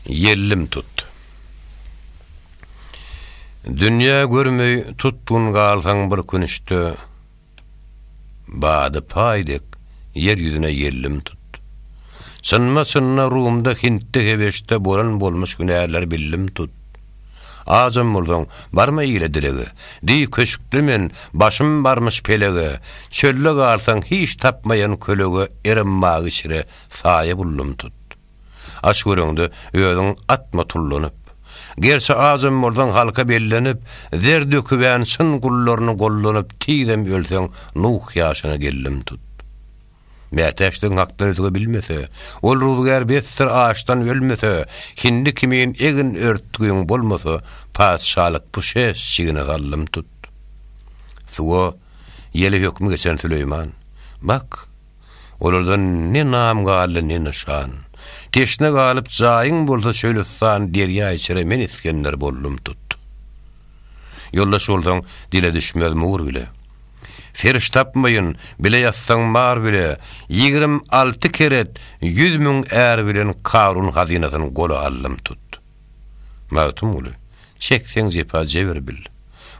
Ýellim tut. Dünýä görmeý tutgun galsaň bir künüşde, Bady paý dek ýer ýüzüne ýellim tut. Çynma-çynla Rumda, Hintde, Hebeşde bolan bolmuş hünärleri billim tut. Ajam bolsaň, barma ile dilege, Diý, köşkli men, başym barmyş pelege, Çölde galsaň hiç tapmaýan kölege Erim magy şire saýa bullum tut. Aç göreňde, özüň atma tullanyp. Gerçi ajam bolsaň halka bellenip, Zer dökübän çyn gullaryny gollanyp Tizem ölseň Nuh ýaşyna gellem tut. Mätäçdigiň hakdan özge bilmese, Ol ruzgär besdir açdan ölmese, Hindi kimin egin örtgüň bolmasa, Patyşalyk bu şeş jigine gallym tut. Suwa, ýele hökmi geçen Süleýman. Bak! Olardan ne nam galdy, ne nyşan. Teşne galyp jaýyň bolsa çölüstan Derýa içere men Isgender boldum tut. Ýoldaş bolsaň dile düşmez mur bile. Serş tapmaýyn, bile ýatsaň mar bile, Ýigrim alty keret, ýüz müň är bilen Karun hazynasyn gola aldym tut. Magtymguly, Çekseň jepa jebir bil.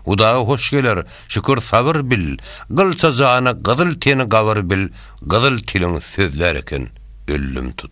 Hudaga hoş geler, şükür sabyr bil, Gylça jany gyzyl teni gabyr bil, Gyzyl tiliň sözlär eken öllüm tut.